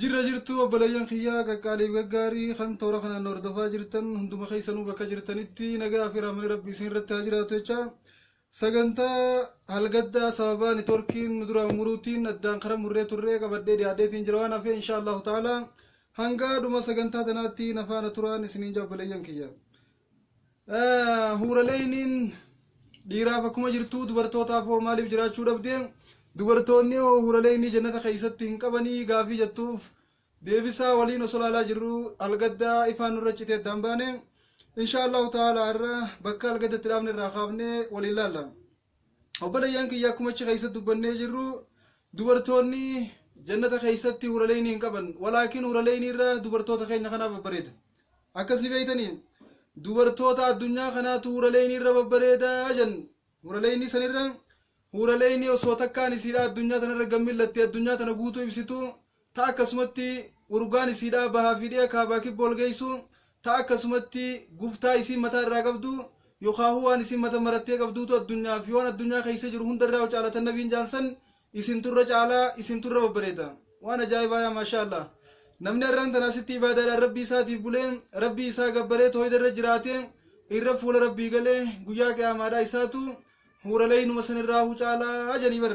Jirra jirtuu obboleeyyan kiyyaa qaqqaaliif gaggaarii kan toora kanaan nu hordofaa jirtan hunduma keessanuu bakka jirtanitti nagaa fi rahmani rabbi isin irratti haa jiraatu jecha sagantaa halgaddaa sababaa nitorkiin nu duraa umuruutiin addaan kara murree turree qabadhee dhiyaadheetiin jira waan hafee inshaa allahu ta'ala hangaa dhuma sagantaa tanaatti nafaana turaan isiniin jaa obboleeyyan kiyya Huuraleeyniin dhiiraaf akkuma jirtu dubartootaaf hoo maaliif jiraachuu dhabde? Dubartoonni hoo huuraleeynii jannata keessatti hin qabanii gaafii jettuuf deebisaa waliin osoo laalaa jirru algaddaa ifaan nurra citee addaan baane. Inshaa Allahu ta'ala irra bakka algaddatti dhaabne irraa kaafne waliin laalla. obboleeyyan kiyya akkuma achi keessa dubbannee jirru dubartoonni jannata keessatti huraleeynii hin qaban walaakin huraleeynii irra dubartoota keenya kanaa babbareeda akkas ni beeytanii dubartoota addunyaa kanaatu huraleeynii irra babbareeda jan huraleeynii sanirra huraleeynii osoo takkaan isiidha addunyaa tanarra gammillatte addunyaa tana guutuu ibsitu ta akkasumatti urugaan isiidhaa bahaa fi dhi'a kaabaa kibba wal geessu, ta akkasumatti gubtaa isiin mataa irraa qabdu, yokhaahuu waan isiin mata marattee qabduutu addunyaa fi waan addunyaa keessa jiru hunda irraa caala tan nabiin jaan san isintu irra caalaa isintu irra babbareeda waan ajaa'ibaa yaa maashaa allah namni arraan tana asitti ibaadaadhaan rabbii isaatiif bulee rabbii isaa gabbaree tooyda irra jiraatee irra fuula rabbii galee guyyaa qiyaamaadhaa isaatu huuraleeynuma san irraa hu caalaa janii bar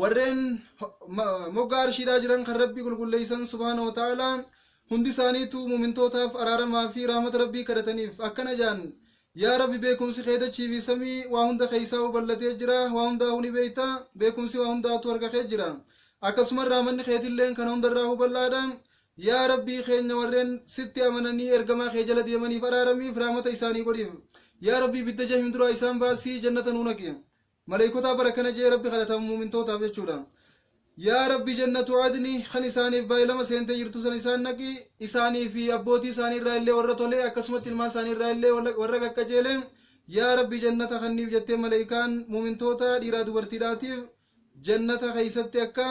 warreen moggaa arshiidhaa jiran kan rabbii qulqulleeysan subhaana wa ta'aalaa hundi isaaniitu muumintootaaf araaramaa fi rahmata rabbii kadhataniif akkana jaan yaa rabbi beekumsi kee dachii fi samii waa hunda keeysaa u ballatee jira waa hundaa huni beeyta beekumsi waa hundaatu harka kee jira akkasuma rahmanni keetilleen kana hundarraa hu bal'aadha yaa rabbii keenya warreen sitti amananii ergamaa kee jala deemaniif araaramiif rahmata isaanii godhiif yaa rabbii bidda jahim duraa isaan baasii jannata nuu naqi Malaykotaa bar akkana je'ee Rabbi kadhata mu'mintootaaf jechuudha. Yaa Rabbi jannatu adni kan isaaniif baay'ilama seentee jirtu san isaan naqi, isaanii fi abbootii isaanii irraa illee warra tole akkasumatti ilmaan isaanii irraa illee warra qaqqajeele, yaa Rabbi jannata kanniif jettee malaykaan mu'mintoota dhiiraa dubartiidhaatiif jannata keessatti akka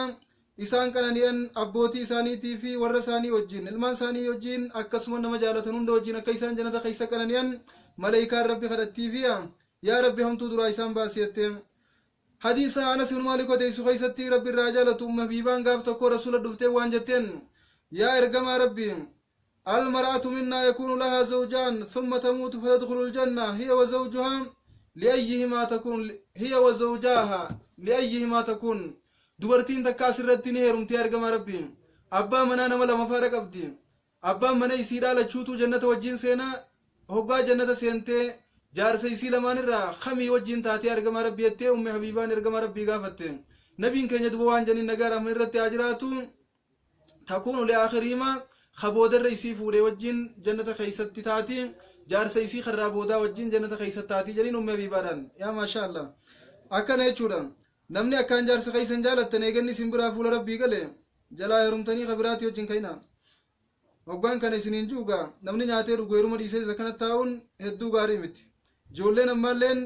isaan qanani'an abbootii isaaniitii fi warra isaanii wajjin ilmaan isaanii wajjin akkasuma nama jaalatan hunda wajjin akka isaan jannata keessa qanani'an malaykaan Rabbi kadhattiifiya. Yaa Rabbi hamtuu duraa isaan baasi jettee. Hadiisa Anas ibn Maalik odeessu keessatti Rabbi irraa haa jaalatu Ummu Habiibaan gaaf tokko Rasuula dhuftee waan jetteen Yaa ergamaa Rabbi Al-mar'atu minnaa yakuunu lahaa zawjaan thumma tamuutu fatadkhulu al-janna hiya wa zawjuhaa li'ayyihimaa takuun hiya wa zawjaaha li'ayyihimaa takuun dubartiin takka asirratti ni heerumti yaa ergamaa Rabbi abbaa manaa nama lama faadha qabdi Abbaan mana isiidhaa lachuutuu jannata wajjiin seena, hoggaa jannata seentee jaarsa isii lamaan irraa kamii wajjiin taatee ergamaa Rabbii jettee ummi habiibaan ergamaa Rabbii gaafatte. Nabiin keenya duba waan janiin nagaa rahman irratti haa jiraatu takuunu li akhiriima ka boodarra isii fuudhe wajjiin jannata keeysatti taati jaarsa isii karraa boodaa wajjiin jannata keeysatti taati janiin ummi habiibaadhaan yaa maashaa Allah akkana jechuudha Namni akkaan jaarsa keessan jaalattan eeganni isin biraa fuula Rabbii gale, jalaa heerumtanii ka biraatii wajjin ka'inaa. Hoggaan kana isiniin ju'u gaa, namni nyaatee dhugu heeruma dhiisee isa kana taa'uun hedduu gaarii miti. Ijoolleen ammaalleen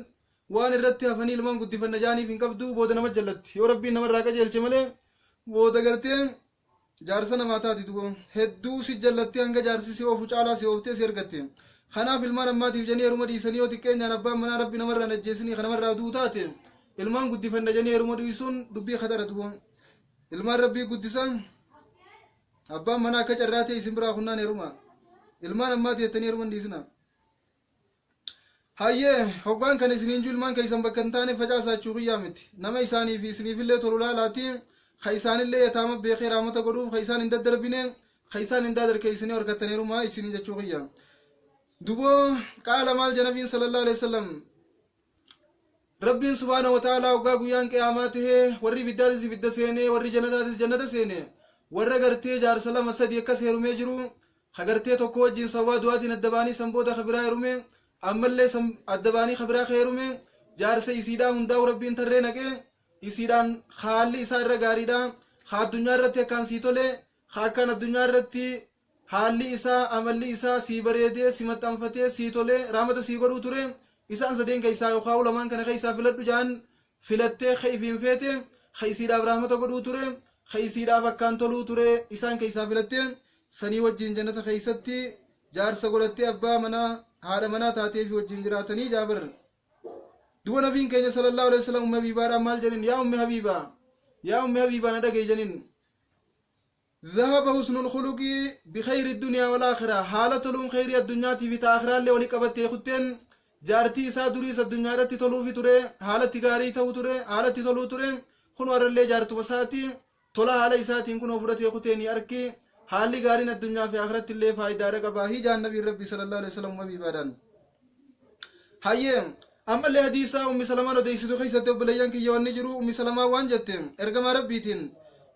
waan irratti hafanii ilmaan guddifanna ja'aniif hin qabdu, booda nama jallatti. Yoo Rabbiin nama irraa qajeelche malee, booda gartee jaarsa namaa taati duba hedduu si jallattee hanga jaarsi si oofu caalaa si ooftee si ergatte kanaaf ilmaan ammaatiif janii heruma dhiisanii yoo xiqqeenyaan abbaan manaa rabbi namarraa hin ajjeesinii ka namarraa du'u taate ilmaan guddifanna janii heruma dhiisuun dubbii khatara duba ilmaan rabbii guddisa abbaan manaa akka carraa ta'e isin biraa kunnaan heruma ilmaan ammaati jettanii heruma hin dhiisina Hayyee, hoggaan kan isiniin ju ilmaan keessan bakka hin taane facaasaa jechuu kiyyaa miti. Nama isaanii fi isiniifillee tolu laalaatii, ka isaanillee yataama beekee raamata godhuuf ka isaan hin daddarbine, ka isaan hin daadarke isinii horkattaneerumaa isiniin jechuu kiyya. Duboo qaala maal jedha Nabiin sallallahu alaihi wasallam Rabbiin subhaanahu wa ta'aalaa hoggaa guyyaan qiyaamaa ta'e warri ibiddaatis ibidda seenee warri jannataatis jannata seene warra gartee jaarsa lama sadii akkas heerumee jiru ka gartee tokko wajjiin sababaa du'aatiin adda ba'anii san booda ka biraa heerumee ammallee san adda ba'anii ka biraa ka heerumee jaarsa isiidhaa hundaa'u rabbiin tarree naqee isiidhaan haalli isaa irra gaariidha ka addunyaa irratti akkaan sii tole ka akkaan addunyaa irratti haalli isaa amalli isaa sii bareedee si maxxanfatee sii tole raamata sii godhuu ture isaan sadeen keessaa yookaan ulamaan kana keessaa filadhu jaan filattee ka ifiin feete ka isiidhaaf rahmata godhuu ture ka isiidhaaf akkaan toluu ture isaan keessaa filattee sanii wajjiin jannata keessatti jaarsa godhattee abbaa manaa haadha manaa taatee fi wajjiin jiraatanii jaabar duba nabiin keenya sallallahu alaihi wasallam ummi habiibaadhaan maal jedhin yaa ummi habiibaa yaa ummi habiibaa na dhagahi jedhin Zahaba husnul khuluqi bi khayri dunya wal akhirah haala toluun khayrii addunyaatii fi ta akhiraallee wali qabattee kutteen jaartii isaa duriis addunyaadhatti toluufi ture haalatti gaarii ta'u ture haalatti toluu ture kunoo arrallee jaartuma isaati tola haala isaatiin kunoo fudhatee kutee ni arki haalli gaariin addunyaa fi akhirattillee faayidaadha qaba hijaan nabiin rabbii sallallahu alaihi wasallam habiibaadhaan hayyee ammallee hadiisaa ummi salamaan odeeysitu keessatti obboleeyyan kiyya wanni jiru ummi salamaa waan jette ergamaa rabbiitiin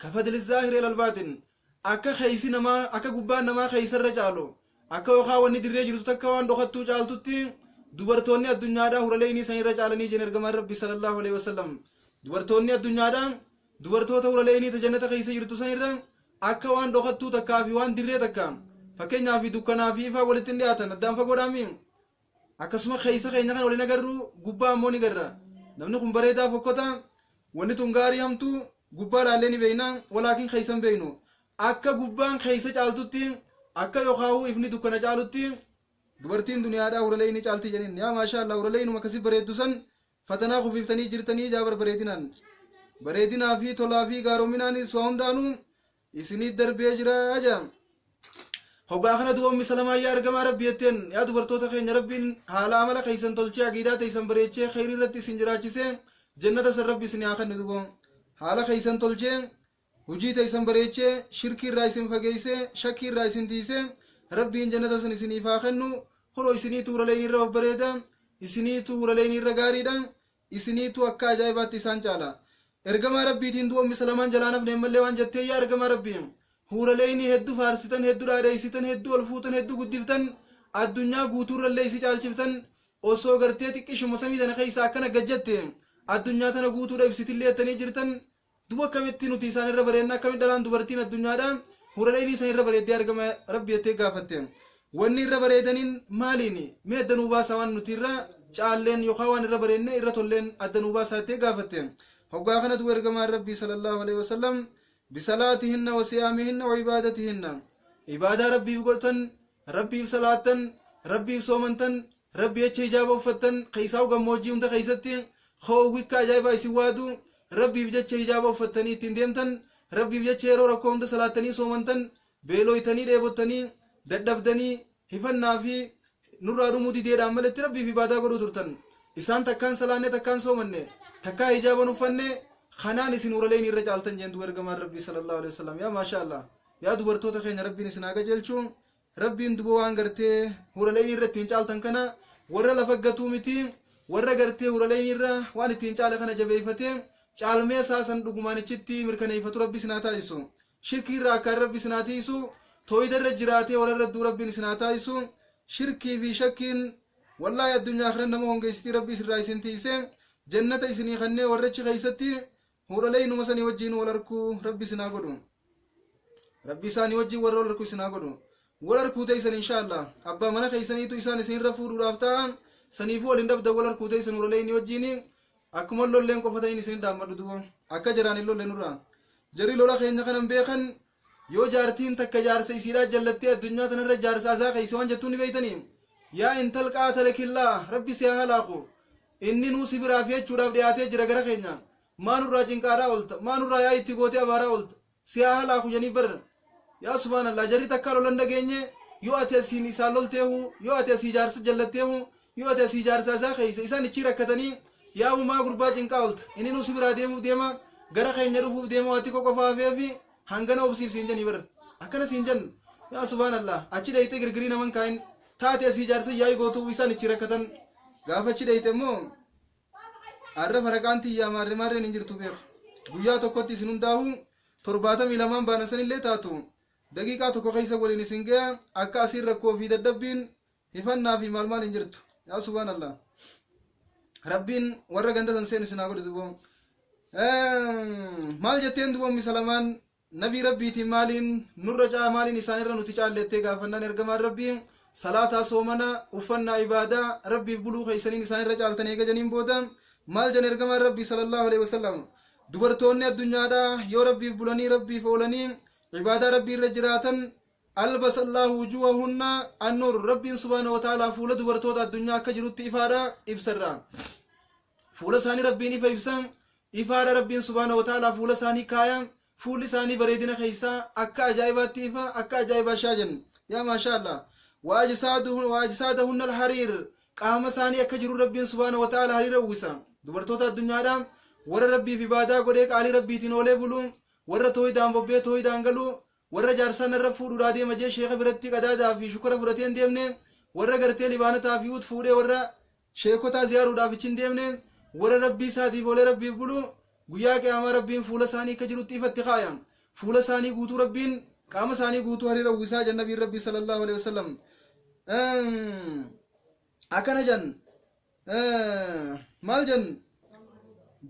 ka fadli zaahiri alal baatin akka keeysi namaa akka gubbaan namaa keeysarra caalu akka yookaa wanni dirree jirtu takka waan dhokattuu caaltutti dubartoonni addunyaadhaa huralee inni isanirra caalanii jeen ergamaan rabbi sallallahu alaihi wasallam dubartoonni addunyaadhaa dubartoota huralee inni tajannata keeysa jirtu sanirra akka waan dhokattuu takkaa fi waan dirree takka fakkeenyaa fi dukkanaa fi ifaa walitti hin dhiyaatan addaan fagoodhaami akkasuma keessa keenya kan waliin agarru gubbaa ammoo ni garra namni kun bareedaa fokkota wanni tun gaarii hamtu gubbaa laallee ni beeyna walaakin keessa hin beeynu akka gubbaan keessa caaltutti akka yookaahuu ifni dukkana caalutti dubartiin duniyaadhaa huralee ni caalti jedheen yaa maashaa allah huralee inuma akkasii bareeddu san fatanaa kufiiftanii jirtanii jaa barbareedinaan bareedinaa fi tolaa fi gaaroominaanis waa hundaanuu isinii darbee jira jedhan hogaa kana duba ummi salamaa yaa argamaa rabbi jetteen yaa dubartoota keenya rabbiin haala amala keessan tolchee aqiidaa teessan bareechee kheyrii irratti isin jiraachisee jannata san rabbi isin haa kennu duba haala keessan tolchee hujii teessan bareechee shirkii irraa isin fageessee shakkii irraa isin tiisee rabbiin jannata san isiniif haa kennu kunoo isinii tuuraleen irra babbareeda isinii tuuraleen irra gaariidha isiniitu akka ajaa'ibaatti isaan caala. Ergamaa Rabbiitiin du'a Ummi Salamaan jalaa hin hafne ammallee waan jette yaa Ergamaa Rabbii! Huuraleeyni heddu faarsitan, heddu dhaadheeysitan, heddu ol fuutan, heddu guddiftan, addunyaa guutuurrallee isi caalchiftan, osoo gartee xiqqishuma samii tana keeysaa akkana gad jette, addunyaa tana guutuudha ibsitillee jettanii jirtan, Duba akkamitti nuti isaan irra bareedna akkamitti dhalaan dubartiin addunyaadhaan hurala inii san irra bareeddee argama rabbi jettee gaafatte. Wanni irra bareedaniin maaliini? Mee adda nuu baasaa waan nuti irra caalleen yookaan waan irra bareedne irra tolleen adda nuu baasaa jettee gaafatte. Hoggaa kana duba ergamaan rabbii sallallahu alaihi wasallam bisalaatihinna wasiyaamihinna wa'ibaadatihinna. Ibaadaa rabbiif godhtan, rabbiif salaattan, rabbiif soomantan, Rabbi jecha hijaaba uffattan keessaa'u gammoojjii hunda keessatti hoowwikka ajaa'ibaa isin waadu Rabbiif jecha hijaaba uffattanii ittiin deemtan Rabbiif jecha yeroo rakkoo hunda salaattanii soomantan beelooytanii dheebottanii dadhabdanii hifannaa fi nurraa dhumuu dideedhaan maletti Rabbiif ibaadaa godhuu turtan isaan takkaan salaanne takkaan soomanne takkaa hijaaban uffanne kanaan isin huraleen irra caaltan jeen duba ergamaan Rabbii sallallahu alaihi wasallam yaa maashaa Allah yaa dubartoota keenya Rabbiin isin haa qajeelchu Rabbiin duba waan gartee huraleynii irra ittiin caaltan kana warra lafa gatuu miti warra gartee huraleynii irra waan ittiin caale kana jabeeyfatee caalmee isaa san dhugumaan ichitti mirkaneeyfatu rabbi isin haa taasisu shirkii irra akkaan rabbi isin haa tiisu tooyida irra jiraatee warra irra duu rabbiin isin haa taasisu shirkii fi shakkiin wallaahi addunyaa akhiran nama hongeeysitii rabbi isin irraa isin tiise jannata isinii kannee warra achi keeysatti Hoodhalee inuma sanii wajjiin wal arkuu rabbi isin haa godhu. Rabbi isaanii wajjiin warra wal arku isin haa godhu. Wal arkuu teessan inshaa Allah. Abbaa mana keessaniitu isaan isinirra fuudhuudhaaf ta'a. Saniifuu wal hin dhabdan wal arkuu teessan hoodhalee inni wajjiin akkuma lolleen qofataniin isin dhaammadhu duuba. Akka jaraan hin lolle nurraa. Jarri lola keenya kanan beekan Yoo jaartiin takka jaarsa isiidhaa jallattee addunyaa tanarra jaarsa azaa keeyse waan jettuun ni beeytanii? Yaa intal qaatalakillaah rabbi si haa halaaku inninuu si biraa fiachuudhaaf dhiyaatee jira gara keenya maa nurraa cinqaadhaa olta maa nurraa yaa itti gootee abaaraa olta si haa halaaku janii bar yaa subhaanallaah jarri takkaa lolan dhageenye yoo ati asiin isaan lolteehu yoo ati asii jaarsa jallatteehu Yoo ati asii ijaarsa isaa keessa isaan ichii rakkatanii yaa uumaa gurbaa cinqaa olta ininuu si biraa deemuuf deema gara keenya dhufuuf deema waatti koo qofa hafee fi hangana obsiif siin janii bar akkana siin jannu yaa subhaan allah achi dheeyxee girgirii naman kaayin taate asii ijaarsa yaa'ii gootuu isaan ichii rakkatan gaafa achi dheeyxe immoo arra faraqaan tiyyaa maarre maarreen hin jirtu beeku guyyaa tokkotti isin hundaa'uu torbaatamii lamaan baanan sanillee taatu daqiiqaa tokko keessa waliin isin gaya akka asiin rakkoo fi dadhabbiin Hifannaa fi maal maal hin jirtu. Yaa subhaan Allah. Rabbiin warra ganda san seenu sinaa godhu duboon. Maal jetteen duboon misalamaan nabii rabbiitiin maaliin nurra caa maaliin isaanirra nuti caallettee gaafannaan ergamaan rabbii salaataa soomana uffannaa ibaadaa rabbiif buluu keessaniin isaanirra caaltan eega janiin booda maal jan ergamaan rabbii sallallahu alaihi wasallam dubartoonni addunyaadhaa yoo rabbiif bulanii rabbiif oolanii ibaadaa rabbii irra jiraatan Albasa Allaahu wujuuhahunna an-nuur Rabbiin subhaanahu wa ta'aalaa fuula dubartoota addunyaa akka jirutti ifaadha, ibsa irraa. Fuula isaanii Rabbiin ifa ibsa, ifaadha Rabbiin subhaanahu wa ta'aalaa fuula isaanii kaaya, fuulli isaanii bareedina keessaa akka ajaa'ibaatti ifa, akka ajaa'ibaa shaajan. Yaa maashaa Allah. Wa ajsaaduhu- wa ajsaadahunna al-hariir Qaama isaanii akka jiru Rabbiin subhaanahu wa ta'aalaa hariira uwwisa. Dubartoota addunyaadha. Warra Rabbiif ibaadaa godhee qaalii Rabbiitiin oolee bulu, warra tooydaan bobbee tooydaan galu, Warra jaarsaa narra fuudhuudhaa deema jee sheeka birattii qadaadaa fi shukara fudhatee hin deemne, warra gartee libaanataa fi uut fuudhee warra sheekotaa ziyaaruudhaaf ichi hin deemne, warra Rabbii isaatiif oolee Rabbiif bulu, guyyaa qiyaamaa Rabbiin fuula isaanii akka jirutti ifa itti kaaya. Fuula isaanii guutuu Rabbiin qaama isaanii guutuu hariira uwwisaa jedhan Nabiin Rabbii sallallaahu aleyhi wasallam. Akkana jedhan maal jennu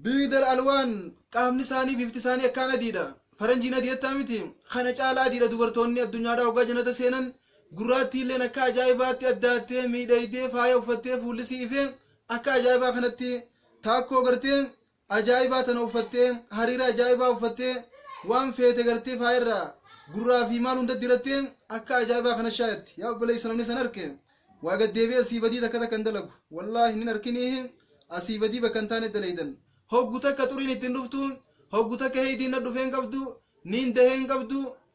biidal alwaan qaamni isaanii bifti isaanii akkaan adiidha faranjiin adii jettaa miti kana caalaa adiidha dubartoonni addunyaadhaa hoggaa jannata seenan gurraattiilleen akka ajaa'ibaatti addaattee miidhaydee faaya uffattee fuullisii ifee akka ajaa'ibaa kanatti taakkoo gartee ajaa'ibaa tana uffattee, hariira ajaa'ibaa uffattee, waan feete gartee faaya irraa gurraa fi maal hunda dirattee akka ajaa'ibaa kana shaayatti. Yaa obboleessa namni san arke waa gad deebi'ee asii badii takka takka hin dalagu. Wallaahi hin arkiniihi asii badii bakka hin taane dalaydan. Hoggu takka xuriin itti hin dhuftu, hoggu takka heeydiin na dhufee hin qabdu, niin dahee hin qabdu,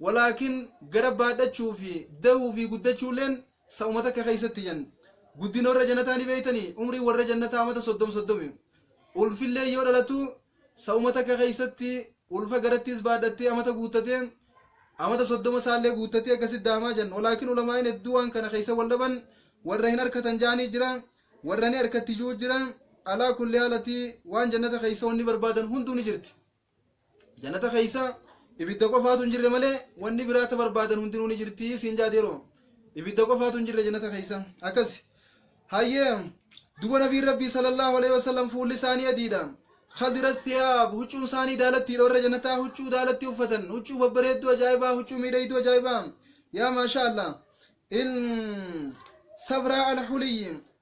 Walaakin gara baadhachuu fi dahuu fi guddachuulleen sa'uma takka keessatti jan. Guddin warra jannataa ni beeytanii? Umriin warra jannataa amata soddom soddomi. Ulfilleen yoo dhalatu sa'uma takka keessatti ulfa garattiis baadhattee amata guuttate, amata soddoma isaallee guuttattee akkasitti daamaa jan. Walaakin ulamaa'in hedduu waan kana keessa wal dhaban warra hin arkatan ja'anii jira, warra ni arkatti ju'u jira. Alaa kulli haal ati waan jannata keessa wanni barbaadan hunduu ni jirti. Jannata keessa ibidda qofaatu hin jirre malee wanni biraa ta barbaadan hundinuu ni jirti siin jaati yeroo ibidda qofaatu hin jirre jannata keessa akkas hayyee duba nabiin rabbii sallallahu alaihi wasallam fuulli isaanii adiidha khadira thiyaab huccuun isaanii daalattiidha warra jannataa huccuu daalatti uffatan huccuu babbareedduu ajaa'ibaa huccuu miidhayduu ajaa'ibaa yaa maashaa allah in sabraa alhuliyyi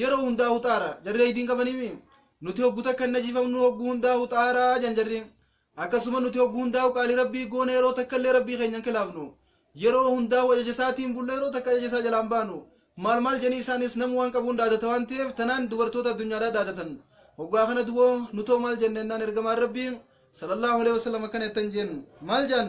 Yeroo hundaa huxaara. Jarri aydiin qabaniimi. Nuti hoggu takka hin najifamnu hoggu hundaa huxaara jan jarri. Akkasuma nuti hoggu hundaa qaalii rabbii goona yeroo takka illee rabbii keenya hin kilaafnu. Yeroo hundaa ajaja isaatiin bulla yeroo takka ajaja isaa jalaan baanu. Maal maal janii isaanis namu waan qabuun dhaadata waan ta'eef tanaan dubartoota addunyaadhaa dhaadatan. Hoggaa kana dubo nutoo maal jenna ennaan ergamaan rabbii sallallahu alaihi wasallam akkana jettan jeen. Maal jaan?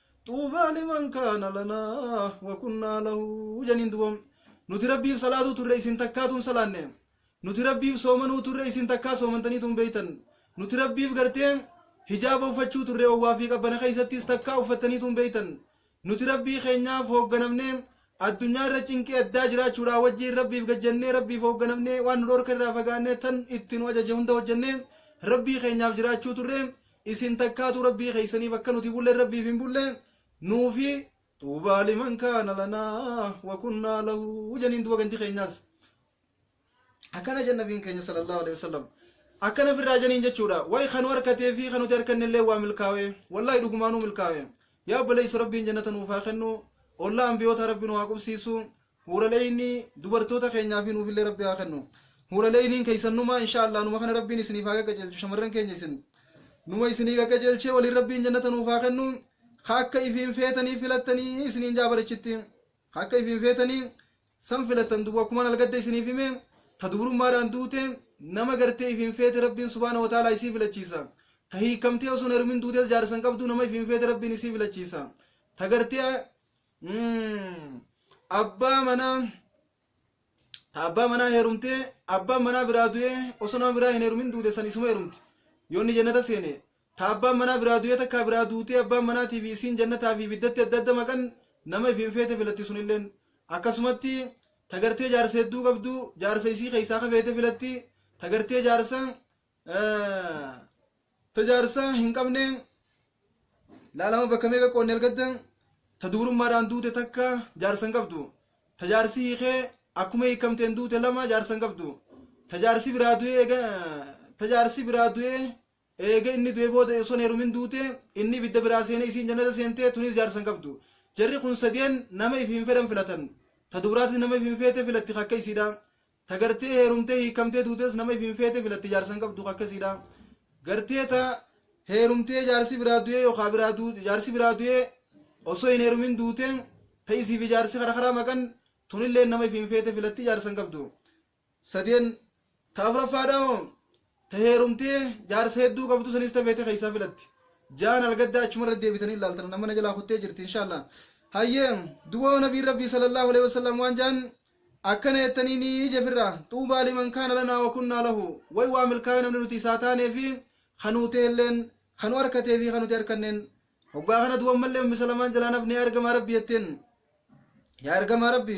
Xuubaa liman kaana lanaa wa kunnaa lahu janiin duba nuti rabbiif salaatuu turre isin takkaatu hin salaanne nuti rabbiif soomanuu turre isin takkaa soomantaniitu hin beeytan nuti rabbiif gartee hijaaba uffachuu turre owwaa fi qabbana keessattis takkaa uffattaniitu hin beeytan nuti rabbii keenyaaf hoogganamne Addunyaa irra cinqii addaa jiraachuudhaa wajjiin Rabbiif gad jennee Rabbiif hoogganamnee waan nu dhoorke irraa fagaannee tan itti nu ajaje hunda hojjennee Rabbii keenyaaf jiraachuu turre isin takkaatu Rabbii keessaniif akka nuti bulle Rabbiif hin bulle nuufi xuubaa liman kaana lanaa wa kunnaa lahu janiin duba gandi keenyaas akkana jedha nabiin keenya sallallahu alaihi wasallam akkana firraa janiin jechuudha way kan harkatee fi kan nuti harkannellee waa milkaawe wallahi dhugumaanuu milkaawe yaa obboleessi rabbiin jannata nuuf haa kennu ollaa ambiyoota rabbi nu haa qubsiisu huuraleeyni dubartoota keenyaa fi nuufillee rabbi haa kennu huuraleeyniin keessannumaa insha allah numa kana rabbiin isiniif haa qajeelchu shamarran keenya isin numa isinii qajeelchee waliin rabbiin jannata nuuf haa kennu ka akka ifiin feetanii filattanii isiniin jaabarichitti ka akka ifiin feetanii San filattan duuba akkuma nalgadda isiniif hime ta dubrummaadhaan duute nama gartee ifiin feete Rabbiin subhaanahu wa ta'aalaa isii filachiisa. Ta hiikkamtee osoon heerumin duutes jaarsa hin qabdu nama ifiin feete Rabbiin isii filachiisa. Ta gartee abbaa manaa ta abbaa manaa heerumtee abbaan manaa biraa du'ee osoo nama biraa hin heerumin duute san isuma heerumti. Yoo inni jannata seene Ta abbaan manaa biraa du'ee takkaa biraa duutee abbaan manaatii fi isiin jannataa fi ibiddatti adda adda maqan nama ifiin feete filatti sunilleen. Akkasumatti ta gartee jaarsa hedduu qabdu jaarsa isii keessaa ka feete filatti ta gartee jaarsa ta jaarsa hin qabne laalama bakka meeqa qoonne algadda ta dubrummaadhaan duute takka jaarsa hin qabdu ta jaarsi hiikee akkuma hiikamteen duute lama jaarsa hin qabdu ta jaarsi biraa du'ee eega ta jaarsi biraa du'ee Eega inni du'ee booda osoo hin heerumin duute, inni ibidda biraa seenee isiin jannata seente, tunis jaarsa hin qabdu. Jarri kun sadeen nama ifi hin fedhan filatan. Ta dubraatis nama ifi hin feete filatti ka akka isiidha. Ta gartee heerumtee hiikkamtee duutes nama ifi hin feete filatti jaarsa hin qabdu ka akka isiidha. Gartee ta heerumtee jaarsi biraa du'ee yookaa biraa du, jaarsi biraa du'ee osoo hin heerumin duute, ta isiifi jaarsi kara karaa maqan, tunilleen nama ifi hin feete filatti jaarsa hin qabdu. sadeen ta afraffaadha hoo ta heerumtee jaarsa hedduu qabdu sanis ta feete keessaa filatti jaan algaddaa achuma irra deebitanii ilaaltan nama na jalaa kuttee jirti inshaallah hayyee duwoo nabiin rabbii sallallahu alaihi wasallam waan jaan akkana jettanii ni jefirra xuubaa liman kaana lanaa wa kunnaa lahu way waa milkaa'ee namni nuti isaa taanee fi kanuutee illeen kanu harkatee fi kanuti harkanneen hoggaa kana duwwan mallee misalamaan jalaanaf ni argama rabbi jetteen yaa argama rabbi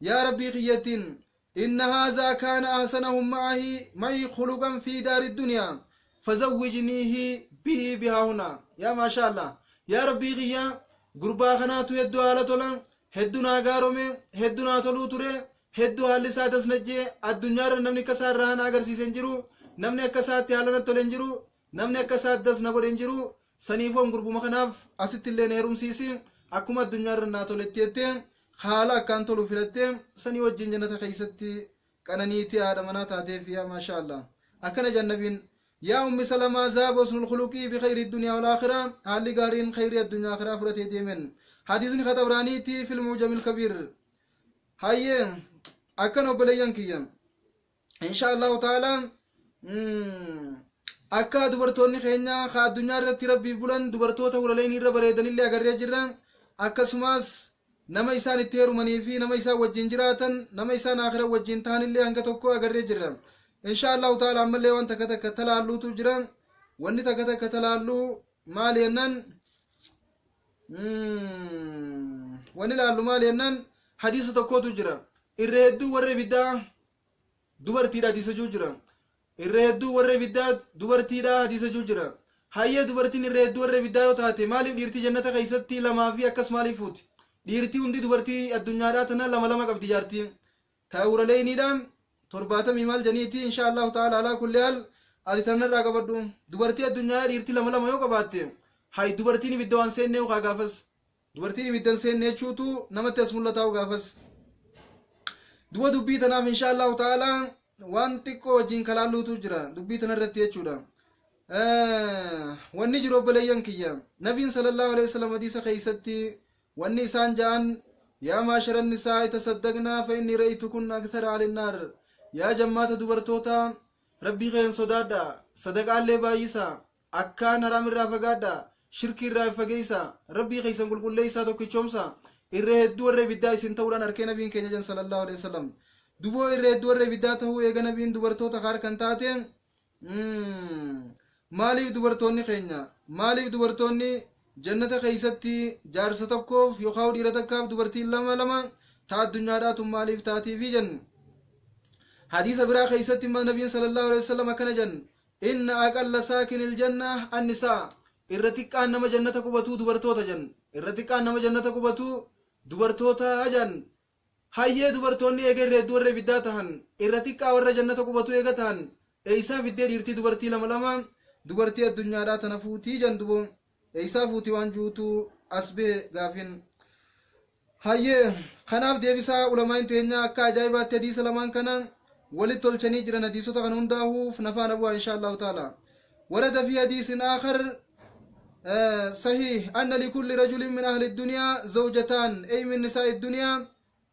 Yaa Rabbii kiyyattiin Inna haazaa kaana ahsanahum ma'ahi ma'i khuluqan fii daari duniya fazawwijniihi bihi bihaahuna Yaa maashaa Allaah Yaa Rabbii kiyya gurbaa kanaatu heddu haala tola heddu naa gaarome heddu naa toluu ture heddu haalli isaa dasnajje addunyaarra namni akka isaa irraa hana agarsiise hin jiru namni akka isaatti haala natti tole hin jiru Namni akka isaa das na godhe hin jiru, saniifuu an gurbuma kanaaf asitti illee na heerumsiisi, akkuma addunyaa irra naa toletti jettee haala akkaan tolu filattee sanii wajjiin jannata keessatti qananiitee haadha manaa taateef yaa maashaa Allah. Akkana jedhan nabiin yaa ummi salamaa zaaba husnul khuluqii bi khayri dunyaa wal aakhiraa haalli gaariin khayrii addunyaa akhiraa fudhatee deemen. Hadiisni ka xabraaniitii fil muujamil kabiir. Hayyee akkana obboleeyyan kiyya. inshaa allahu ta'ala akka dubartoonni keenya ka addunyaa irratti rabbiif bulan dubartoota hulaleen irra bareedanillee agarree jirra akkasumas nama isaan itti heerumanii fi nama isaan wajjin jiraatan nama isaan akira wajjin tahanillee hanga tokko agarree jirra inshaa allahu ta'ala ammallee waan takka takka talaalluutu jira wanni takka takka talaalluu maal jennaan wanni laallu maal jennaan hadiisa tokkotu jira irra hedduu warri biddaa dubartiidha hadiisa juu jira irra hedduu warra ibiddaa dubartiidha hadiisa juu jira hayyee dubartiin irra hedduu warra ibiddaa yoo taate maaliif dhiirtii jannata keessatti lamaa fi akkas maaliif fuuti dhiirtii hundi dubartii addunyaadhaa tana lama lama qabdi jaartii taa'uuraleeyniidha torbaatamii maal janiiti insha allahu ta'ala alaa kulli haal ati tanarraa qabadhu dubartii addunyaadhaa dhiirtii lama lama yoo qabaatte hay dubartiin ibidda waan seennee ukaa gaafas Dubartiin ibidda hin seenne jechuutu namatti as mul'ataa'u gaafas. Duba dubbii tanaaf insha Allahu ta'ala waan xiqqoo wajjin kalaalluutu jira dubbii tana irratti jechuudha. Wanni jiru obboleeyyan kiyya nabiin sallallahu alaihi wasallam hadiisa keessatti wanni isaan ja'an yaa maasharan nisaa tasaddaqnaa fa inni ra'itu kun akthara alinnaar yaa jammaata dubartoota rabbii keen sodaadha sadaqaallee baay'isa Akkaan haraam irraa fagaadhaa, shirkii irraa if fageessaa, Rabbii keessan qulqulleessaa, tokkichoomsaa, irra hedduu warra ibiddaa isin ta'uudhaan arkee Nabiin keenya jan sallallahu aleyh wasallam. Duboo irra hedduu warra ibiddaa ta'uu eega Nabiin dubartoota kaar kan taate, maaliif dubartoonni keenya, maaliif dubartoonni jannata keessatti jaarsa tokkoof yookaan dhiira takkaaf dubartiin lama lama ta addunyaadhaa tun maaliif taatiifi jennu. Hadiisa biraa keessatti immoo Nabiin sallallahu aleyh wasallam akkana jan, Inna aqalla saakinil jannah annisaa, Irra xiqqaan nama jannata qubatuu dubartoota jan. Irra xiqqaan nama jannata qubatuu dubartoota jan. Hayyee dubartoonni eega irra hedduu warra ibiddaa tahan, irra xiqqaa warra jannata qubatuu eega tahan, eeysaa fiddee dhiirtii dubartii lama lama, dubartii addunyaadhaa tana fuutii jan dubo. Eeysaa fuuti waan juutu as behe gaafin. Hayyee kanaaf deebisaa ulamaa'in teenyaa akkaa ajaa'ibaatti hadiisa lamaan kana walit tolchanii jiran hadiisota kana hundaahuuf na faana bu'aa inshaa Allaahu ta'aala. Warada fi hadiisin aakhar sahiih anna likulli rajulin min ahli duniyaa zawjataan ey min nisaa'i duniyaa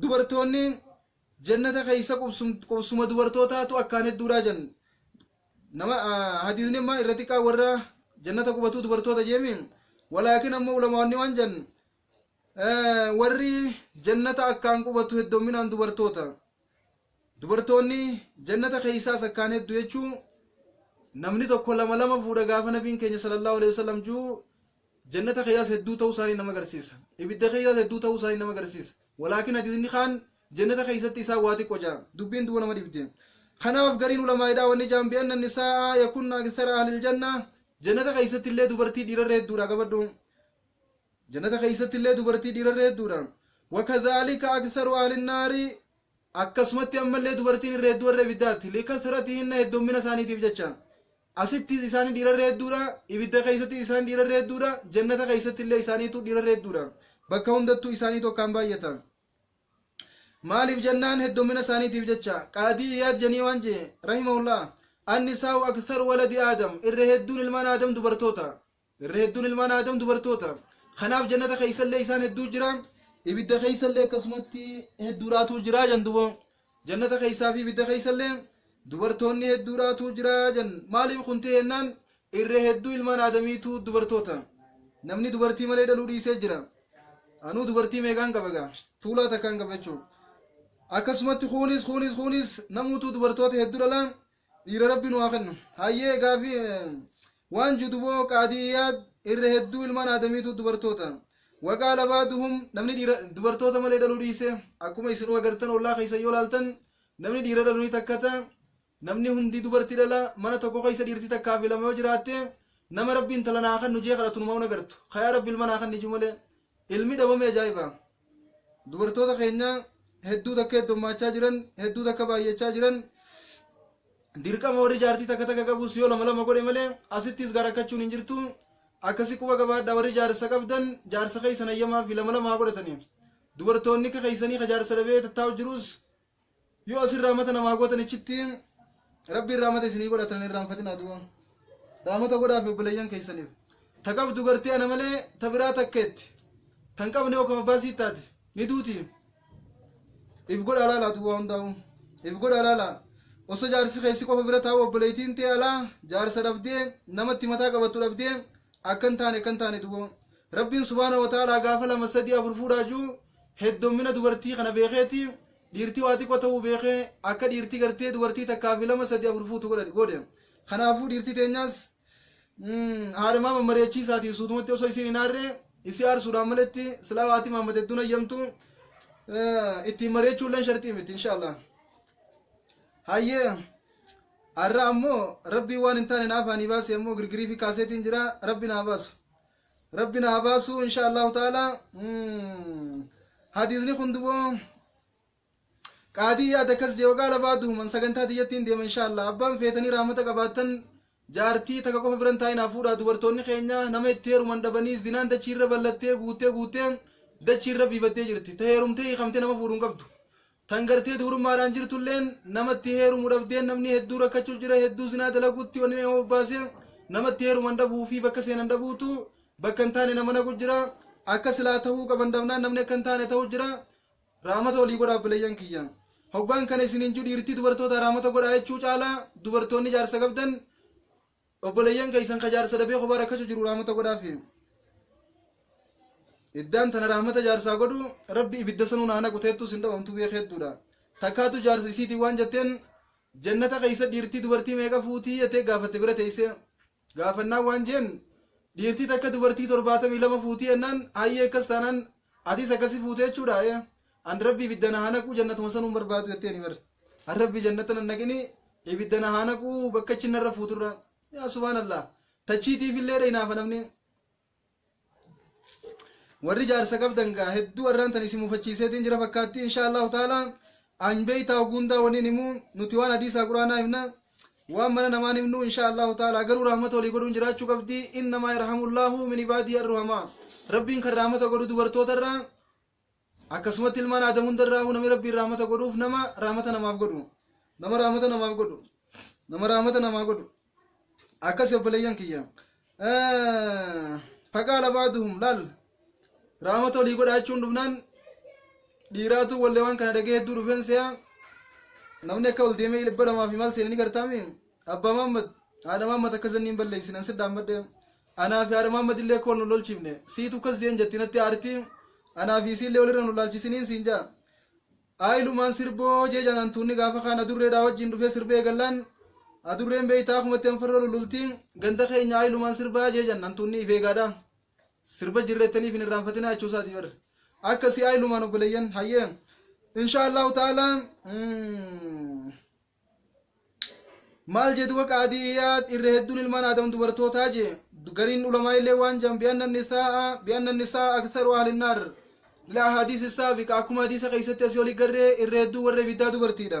dubartoonni jannata keessa qubsuma dubartootaatu akkaan hedduudhaa jan nama hadiisni amma irra xiqqaa warra jannata qubatuu dubartoota jeemi walaakin amma ulamaanni waan jan warri jannata akkaan qubatu heddomminaan dubartoota dubartoonni jannata keessaas akkaan heddu jechuu namni tokko lama lama fuudha gaafa nabiin keenya sallallahu alaihi wasallam juu Jannata keeyas hedduu ta'uu isaanii nama garsiisa. Ibidda keeyas hedduu ta'uu isaanii nama garsiisa. Walaakin hadiisni kaan jannata keeysatti isaan waa xiqqo ja'a. Dubbiin duuba nama dhibde. Kanaaf gariin ulamaa'idhaa wanni ja'an bi anna nisaa'a yakunna akthara ahlil janna jannata keeysatti illee dubartii dhiirarra hedduudha qabadhu. Jannata keeysatti illee dubartii dhiirarra hedduudha. Wakadhaalika aktharu ahlin naari akkasumatti ammallee dubartiin irra hedduu warra ibiddaatti likathratihinna heddommina isaaniitiif jecha. Asittis isaanii dhiira irra hedduudha, ibidda keessattis isaan dhiira irra hedduudha, jannata keessatti illee isaaniitu dhiira irra hedduudha. Bakka hundattuu isaaniitu akkaan baay'ata. Maaliif jennaan heddummina isaaniitiif jecha qaadii iyaad janii waan jee rahimahullah annisaa'u aksaru waladi aadam irra hedduun ilmaan aadam dubartoota irra hedduun ilmaan aadam dubartoota kanaaf jannata keessallee isaan hedduu jira ibidda keessallee akkasumatti hedduudhaatu jira jan duba jannata keessaa fi ibidda keessallee dubartoonni hedduudhaatu jira jan maaliif kun ta'e jennaan irra hedduu ilmaan aadamiitu dubartoota namni dubartii malee dhaluu dhiisee jira anuu dubartii meeqaan qaba gaa tuulaa takkaan qaba jechuudha akkasumatti kuunis kuunis kuunis namuutu dubartoota hedduu dhala Dhiira rabbi nu haa kennu. Hayyee gaafi waan juduboo qaadiyaad irra hedduu ilmaan aadamiitu dubartoota. Waqaa labaaduhum namni dhiira dubartoota malee dhaluu dhiise akkuma isinuu agartan ollaa keessa yoo laaltan namni dhiira dhalu ni takkata namni hundi dubarti dhala mana tokko keessa dhiirti takkaa fi lama yoo jiraatte nama rabbi intala naa kan nujee kadhatu numa un agartu kayaa rabbi ilma naa kan niju malee ilmi dhabame ajaa'iba Dubartoota keenya hedduu takka heddummaachaa jiran, hedduu takka baay'achaa jiran. Dirqama warri jaartii takka takka qabus yoo lama lama godhe malee asittis gara rakkachuun hin jirtu. Akkasi quba qabaadha warri jaarsa qabdan jaarsa keessan hayyamaa fi lama lama haa godhataniif. Dubartoonni akka keessanii ka jaarsa dhabee tattaa'u jirus Yoo isin raamata namaa gootan ichitti rabbiin raamata isinii godhatan hin irraanfatinaa duuba. Raamata godhaafi obboleeyyan keessaniif. Ta qabdu gartee ana malee ta biraa takkeetti. Tan qabne yoo kama baasii taate ni duuti. If godhaa laalaa duuba hundaa'u. If godhaa laalaa. Osoo jaarsi keessi qofa bira taa'u obboleeytiin tee alaa jaarsa dhabdee namatti mataa qabattu dhabdee akkan taane akkan taane duuba. Rabbiin subhaana wa ta'aalaa gaafa lama sadii afur fuudhaa juu Heddommina dubartii kana beekeeti dhiirti waa xiqqo ta'uu beekee akka dhiirti gartee dubartii takkaa fi lama sadii afur fuutu godhate goode. Kanaafuu dhiirti teenyaas haadhamaa mammareechiisaatiin suutumatti osoo isiin hin aarre isii aarsuudhaan maletti silaa waati Muhammad hedduun hayyamtu ittiin mareechuulleen sharxii miti inshaallah. Hayyee har'a ammoo rabbiin waan hin taane naafaanii baasee ammoo girgirii fi kaaseetiin jira rabbi naa baasu. Rabbi na habaasuu insha Allahu ta'ala hadiisni kun duboo qaadii yaada akkas jee waggaa labaa duhuman sagantaa tiyyattiin deema insha Allah abbaan feetanii raamata qabaattan jaartii takka qofa biran taa'inaa fuudhaa dubartoonni keenya nama itti heeruman dhabanii zinaan dachiirra ballattee guuttee guuttee dachiirra biifattee jirti ta heerumtee hiikamtee nama fuudhuun qabdu Tan gartee dubrummaadhaan jirtulleen nama itti heerumu dhabdeen namni hedduu rakkachuu jira hedduu zinaa dalaguutti wanni nama bobbaase nama itti heeruman dhabuu fi bakka seenan dhabuutu bakka hin taane nama naqu jira akka silaa tahuu qaban dhabnaan namni akka hin taane tahu jira raamata olii godha abbileeyyan kiyya hoggaan kana isiniin ju dhiirtii dubartoota raamata godhaa jechuu caalaa dubartoonni jaarsa qabdan obboleeyyan keessan ka jaarsa dhabee kophaa rakkachu jiru rahmata godhaafi iddaan tana rahmata jaarsaa godhu rabbi ibidda sanuu naa naqu teettuu sin dhawamtu beek hedduudha takkaatu jaarsa isiitiin waan jetteen jannata keessa dhiirtii dubartii meeqa fuutii jettee gaafatte bira teeyse gaafannaan waan jeen dhiirtii takka dubartii torbaatamii lama fuutii jennaan hayyee akkas taanaan Atis akkasi fuute jechuudha ee an rabbi ibidda na haa naquu jannatuma sanuu hin barbaadu jetteeni bar an rabbi jannata nan naqini ibidda na haa naquu bakka achi narra fuuturra yaa subhaanallah tachiitiif illee dha hinaafa namni warri jaarsa qabdan gaa hedduu arraan tan isin mufachiiseetiin jira fakkaatti insha allahu taala an beeytaa oguundaa waniin himuu nuti waan hadiisaa quraanaa himna waan mana namaan himnu insha allahu taala garuu rahmata walii godhuun jiraachuu qabdi innamaa yarhamullaahu min ibaadii arruhamaa rabbiin kan rahmata godhu dubartoota irraa akkasumatti ilmaan aadam hunda irraa namni rabbiin rahmata godhuuf nama rahmata namaaf godhu nama rahmata namaaf godhu nama rahmata namaa godhu akkasi obboleeyyan kiyya faqaala baaduhum laal Raamata olii godhaa jechuun dhufnaan dhiiraatu wallee waan kana dhagee hedduu dhufeen se'a. Namni akka ol deemee dhibba lamaa fi maal seene ni gartaame. Abbaa Maammad haadha Maammad akka zanniin balleessin an sidhaan madde. Anaa fi haadha Maammad illee akka wal nu lolchiifne. Siitu akkas jeen jetti natti aarti. Anaa fi isiillee walirra nu laalchisiniin siin jaa. Aayilumaan sirboo jee jaanaan tuunni gaafa kaan adurreedhaa wajjin dhufee sirbee eegallaan. Adurreen beeytaa akumatti anfarroo lululti. Ganda keenya aayilumaan sirbaa jee jaan antuunni ifeegaadhaa. Sirba jirrettaniif hin irraanfatinaa jechuu isaati bar. Akka si'aa ilumaan obboleeyyan hayyee. Insha Allahu ta'ala mm, maal jedhu waqa adiyaa irra hedduun ilmaan aadam dubartootaa je gariin ulamaa illee waan jedhan bi'anna nisaa bi'anna nisaa aktharu ahli naar ila hadiisi saabiqa akkuma hadiisa keessatti asii oli garree irra hedduu warra ibiddaa dubartiidha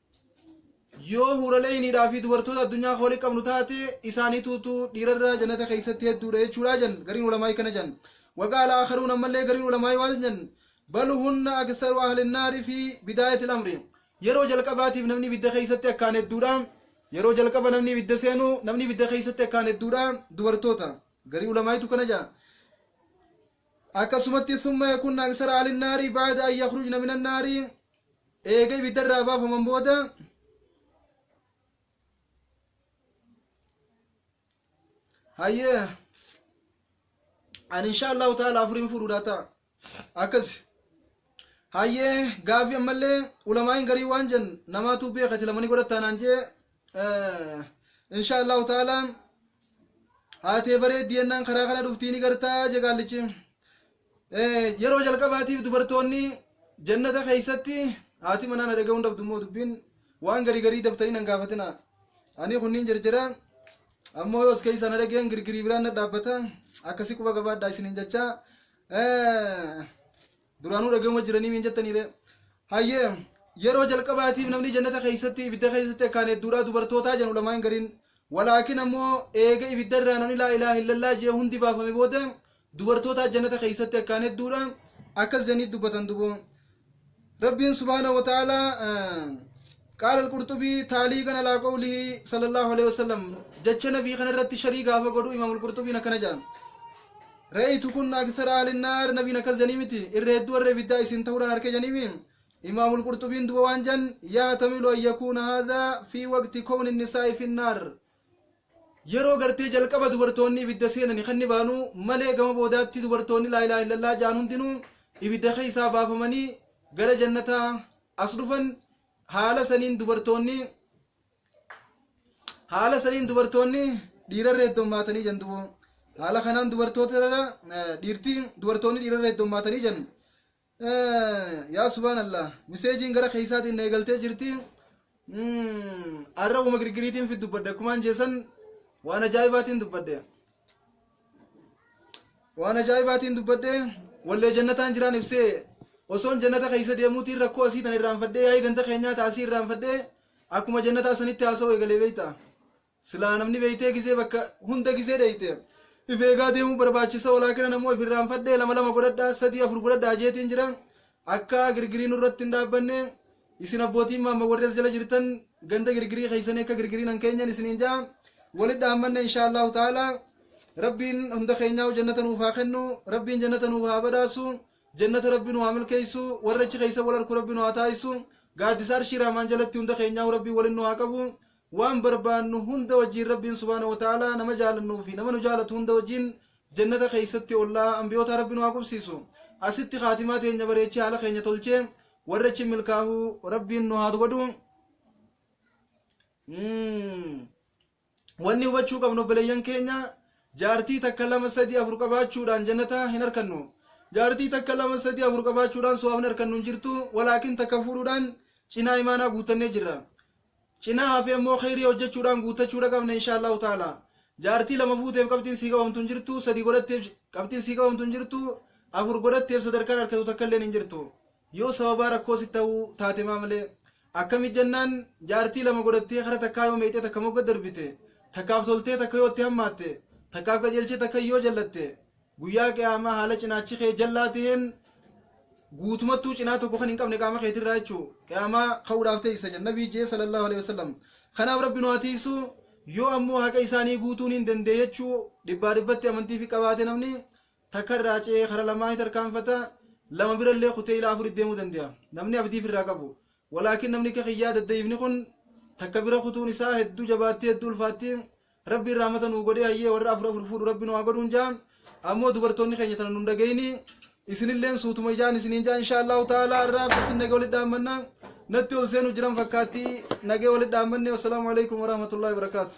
yoo huuraleeyniidhaa fi dubartoota addunyaa kan walitti qabnu taate isaaniituutu dhiirarraa jannata keessatti hedduudha jechuudha jan gariin ulamaa'ii kana jan waqaala akaruun ammallee gariin ulamaa'ii waan jan bal hunna aksaru ahlinnaari fi bidaayati lamri yeroo jalqabaatiif namni ibidda keessatti akkaan hedduudha yeroo jalqaba namni ibidda seenu namni ibidda keessatti akkaan hedduudha dubartoota garii ulamaa'iitu kana jaa akkasumatti summa yakunna aksara ahlinnaari baada an yakhrujna min annaari Eega ibidda irraa baafaman booda hayyee ani insha allahu taala afuriin fuudhuudha ta'a akkas hayyee gaafii ammallee ulamaa'iin garii waan jen namaatu beeka itti lamanii godhattaanaan jee insha allahu taala haatee bareeddi yennaan karaa kana dhuftii ni gartaa jegaallichi Yeroo jalqabaatiif dubartoonni jannata keessatti haati manaa na dhaga'uun dhabdu immoo dubbiin waan garii garii daftanii nan gaafatina. Ani kunniin jirjira ammoo yoos keessa na dhageen girgirii biraan na dhaabbata akkasii quba gabaadhaa isiniin jecha duraanuu dhaga'uma jiranii miin jettaniire. Hayyee yeroo jalqabaatiif namni jannata keessatti ibidda keessatti akkaan hedduudhaa dubartootaa jedhu lamaan gariin walaakin ammoo eega ibidda irraa namni laa ilaaha illallaa jee hundi baafame booda dubartootaa janata keessatti akkaan hedduudha akkas janii dubbatan duboo rabbiin subhaana wa ta'aalaa qaala alqurxubii taalii kana laa qawlihi sallallahu alaihi wasallam jecha nabii kana irratti sharii gaafa godhu imaam alqurxubiin akkana jedhan ra'aytu kunna akthara ahli naar nabiin akkas janii miti irra hedduu warra ibiddaa isin ta'uudhaan harka janiimi imaam alqurxubiin duba waan jan yaatamilu an yakuuna haadha fi waqti kowni nisaa'i fi naar Yeroo gartee jalqaba dubartoonni ibidda seenani kan ni baanu malee gama boodaatti dubartoonni laa ilaaha illallah ja'an hundinuu ibidda keessaa baafamanii gara jannataa as dhufan haala saniin dubartoonni haala saniin dubartoonni dhiirarra heddommaatanii jan dubo haala kanaan dubartoota irra eh, dhiirti dubartoonni dhiirarra heddommaatanii jan yaa subhaan allah miseejiin gara keeysaatiin na eegaltee jirti arra uma girgiriitiin fit dubbadde akkumaan jeesan waan ajaa'ibaatiin dubbadde waan ajaa'ibaatiin dubbadde wallee jannataan jiraan ibsee osoon jannata keeysa deemuutiin rakkoo asii tan irraanfadhee yaa'ii ganda keenyaa ta asii irraanfadhee akkuma jannataa sanitti haasa'u eegalee beeyta Silaa namni beeytee gisee bakka hunda gisee dheeyte if eegaa deemuu barbaachisa walaakina namoo if irraanfadhee lama lama godhadhaa sadii afur godhadhaa jeetiin jira akka girgirii nurratti hin dhaabbanne isin abbootiin maamma warri as jala jirtan ganda girgirii keessanii akka girgiriin hin keenyeen isiniin ja'a walit dhaammanna inshaa Allahu ta'ala rabbiin hunda keenyaa jannata nuuf haa kennu rabbiin jannata nuuf haa badhaasu jannata rabbi nu haa milkeessu warra achi keessa wal arku rabbi nu haa taasisu gaaddisa arshii raamaan jalatti hunda keenyaa rabbii waliin nu haa qabu Waan barbaannu hunda wajjiin Rabbiin subhaanahu wa ta'aalaa nama jaalannuu fi nama nu jaalatu hunda wajjiin Jannata keessatti ollaa Anbiyootaa Rabbi nu haa qubsiisu. Asitti khaatimaa teenya bareechee haala keenya tolchee warra achi milkaahu Rabbiin nu haa godhu. Wanni hubachuu qabnu obboleeyyan keenya jaartii takka lama sadii afur qabaachuudhaan Jannata hin arkannu. Jaartii takka lama sadii afur qabaachuudhaan suwaabni arkannu hin jirtu walaakin takka fuudhuudhaan cinaa imaanaa guuttannee jirra. Cinaa hafee immoo kheyrii hojjachuudhaan guuttachuudha qabna inshaa Allahu ta'ala. Jaartii lama fuuteef qabxiin sii qabamtu hin jirtu, sadii godhatteef qabxiin sii qabamtu hin jirtu, afur godhatteef sadarkaan arkatu takka illeen hin jirtu. Yoo sababaa rakkoo sitti ta'uu taate maa malee. Akkami jennaan jaartii lama godhattee kara takkaa yoo meeyxee takka mogga darbite, takkaaf toltee takka yoo itti hammaatte, takkaaf qajeelchee takka yoo jallatte, Guyyaa qiyaamaa haala cinaachi kee jallaa ta'een guutumattuu cinaa tokko kan hin qabne qaama keetirraa jechuu qiyaamaa ka'uudhaaf teessa jedha nabii jee sallallahu alaihi wasallam kanaaf rabbi nu haa tiisu yoo ammoo haqa isaanii guutuun hin dandee jechuu dhibbaa dhibbatti amantii fi qabaate namni takka irraa ce'ee kara lamaa ni tarkaanfata lama birallee kutee ilaa afurit deemuu danda'a namni abdiif irraa qabu walaakin namni akka kiyyaa dadda'ifni kun takka bira kutuun isaa hedduu jabaatti hedduu ulfaatti Rabbiin rahmata nuu godhee hayyee warra afur afur fuudhu rabbi nu haa godhuun jaa ammoo dubartoonni keenya tana nun dhagayini isinilleen suutuma ijaan isiniin jaa insha allahu ta'ala irraa abdasin nagee walitti dhaammanna natti ol seenu jiran fakkaatti nagee walitti dhaammanne wassalaamu alaikum warahmatullahi wabarakaatu